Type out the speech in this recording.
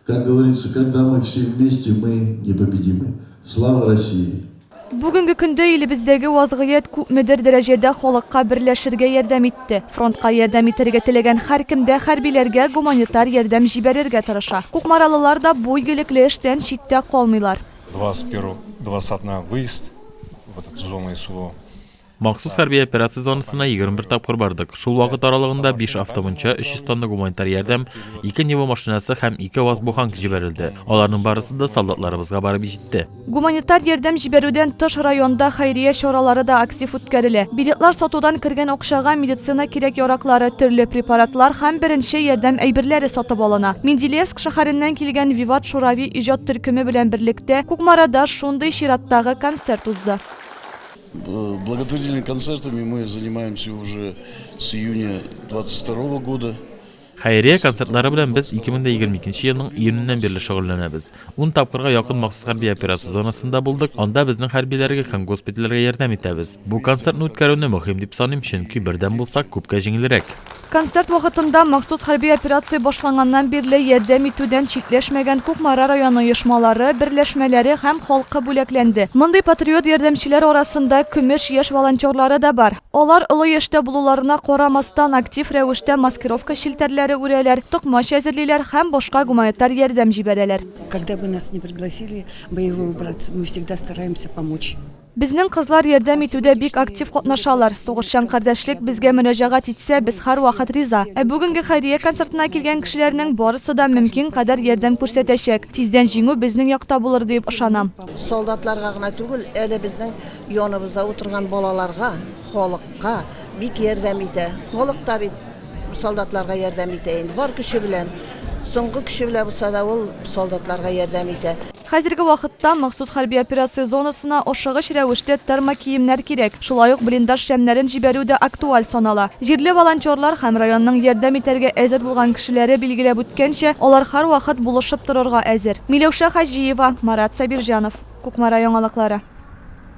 Как говорится, когда мы все вместе, мы непобедимы. Слава России! Бүгенге көндә илебездәге вазгыять күпмедер дәрәҗәдә халыкка берләшергә ярдәм итте. Фронтка ярдәм итәргә теләгән һәркем дә хәрбиләргә гуманитар ярдәм җибәрергә тырыша. Кукмаралылар да бу игелекле эштән читтә калмыйлар. 21 20 на выезд в этот зону СВО. Махсус хәрби операция зонасына 21 тапкыр бардык. Шул вакыт аралыгында 5 автомунча, 300 тонна гуманитар ярдәм, 2 Нива машинасы һәм 2 ВАЗ-Буханг җибәрелде. Аларның барысы да солдатларыбызга барып җитте. Гуманитар ярдәм җибәрүдән тыш районда хәйрия чаралары да актив үткәрелә. Билетлар сатудан кергән акчага медицина кирәк-яраклары, төрле препаратлар һәм беренче ярдәм әйберләре сатып алына. Менделеевск шәһәреннән килгән Виват Шурави иҗат төркеме белән берлектә Кукмарада шундый чираттагы концерт узды. Благотворительныйның концертами мы занимаемся уже с июня 22 года. Хәйрия концертлары белән без 2022 елның июненнән бирле шөгыльләнәбез. 10 тапкырга якын махсус хәрби операция зонасында булдык. Анда безнең хәрбиләргә һәм госпитальләргә ярдәм итәбез. Бу концертны үткәрүне мөһим дип саныйм, чөнки бердәм булсак, күпкә җиңелрәк. Концерт вакытында махсус хәрби операция башланганнан бирле ярдәм итүдән читләшмәгән Кукмара районы оешмалары, берләшмәләре һәм халкы бүләкләнде. Мондый патриот ярдәмчеләр арасында Көмеш яшь волонтерлары да бар. Алар, олы яшьтә булуларына карамастан, актив рәвештә маскировка челтәрләре үрәләр, токмач әзерлиләр һәм башка гуманитар ярдәм җибәрәләр. Когда бы нас ни пригласили боевой убраться, мы всегда стараемся помочь. Безнең кызлар ярдәм итүдә бик актив катнашалар. Сугышчан кардәшлек безгә мөрәҗәгать итсә, без һәрвакыт риза. Ә бүгенге хәйрия концертына килгән кешеләрнең барысы да мөмкин кадәр ярдәм күрсәтәчәк. Тиздән җиңү безнең якта булыр диеп ышанам. Солдатларга гына түгел, әле безнең яныбызда утырган балаларга, халыкка бик ярдәм итә. Халык та бит солдатларга ярдәм итә инде, бар көче белән. Соңгы көче белән булса да, ул солдатларга ярдәм итә. Хәзерге вакытта махсус хәрби операция зонасына ашыгыч рәвештә термокиемнәр кирәк, шулай ук блиндаж шәмнәрен җибәрү дә актуаль санала. Җирле волонтерлар һәм районның ярдәм итәргә әзер булган кешеләре билгеләп үткәнчә, алар һәрвакыт булышып торырга әзер. Миләүшә Хаҗиева, Марат Сабирҗанов. Кукмара яңалыклары.